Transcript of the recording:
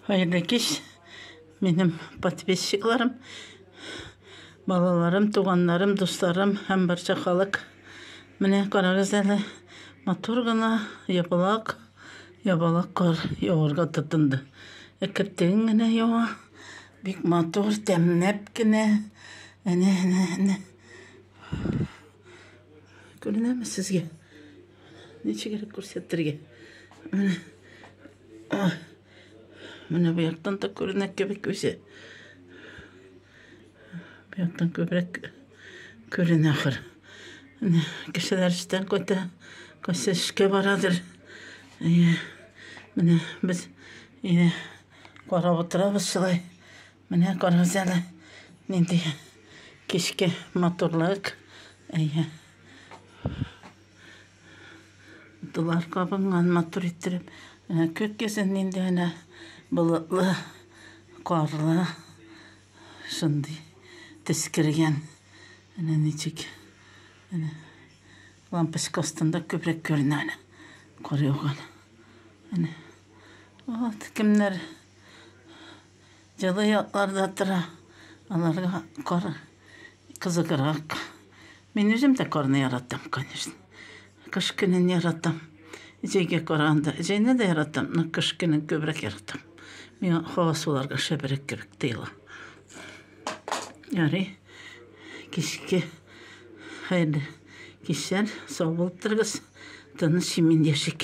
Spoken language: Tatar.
Хәерле кич, минем подписчикларым, балаларым, туганнарым, дусларым һәм барча халык. Менә карагыз әле, матур гына ябалак, ябалак кар яварга тотынды. Әкертегең генә ява, бик матур, тәмләп кенә. Әнә, әнә, әнә. Күренәме сезгә? Ничегрәк күрсәтергә? Менә. Менә бу яктан да күренә кебек үзе. Бу яктан күбрәк күренә ахыр. Менә кешеләр эштән кайта, кайсы эшкә барадыр. Әйе. Менә без инде карап утырабыз шулай. Менә карагыз әле. Нинди кичке матурлык. Әйе. Утылар кабынган матур иттереп. Менә көт кесен нинди әнә болытлы, карлы. Шундый төс кергән. Әнә ничек. Әнә лампочка астында күбрәк күренә әнә. Кар яуган. Әнә. Вот кемнәр Җылы якларда тора. Аларга кар кызыграк. Мин үзем дә карны яратам, конечно. Кыш көнен яратам. Җәйгә караганда. Җәйне дә яратам, но кыш көнен күбрәк яратам. Миңа һава суларга шәберәк кебек тоела. Ярый. Кичке хәерле кичләр. Сау булып торыгыз. Тыныч, имин яшик.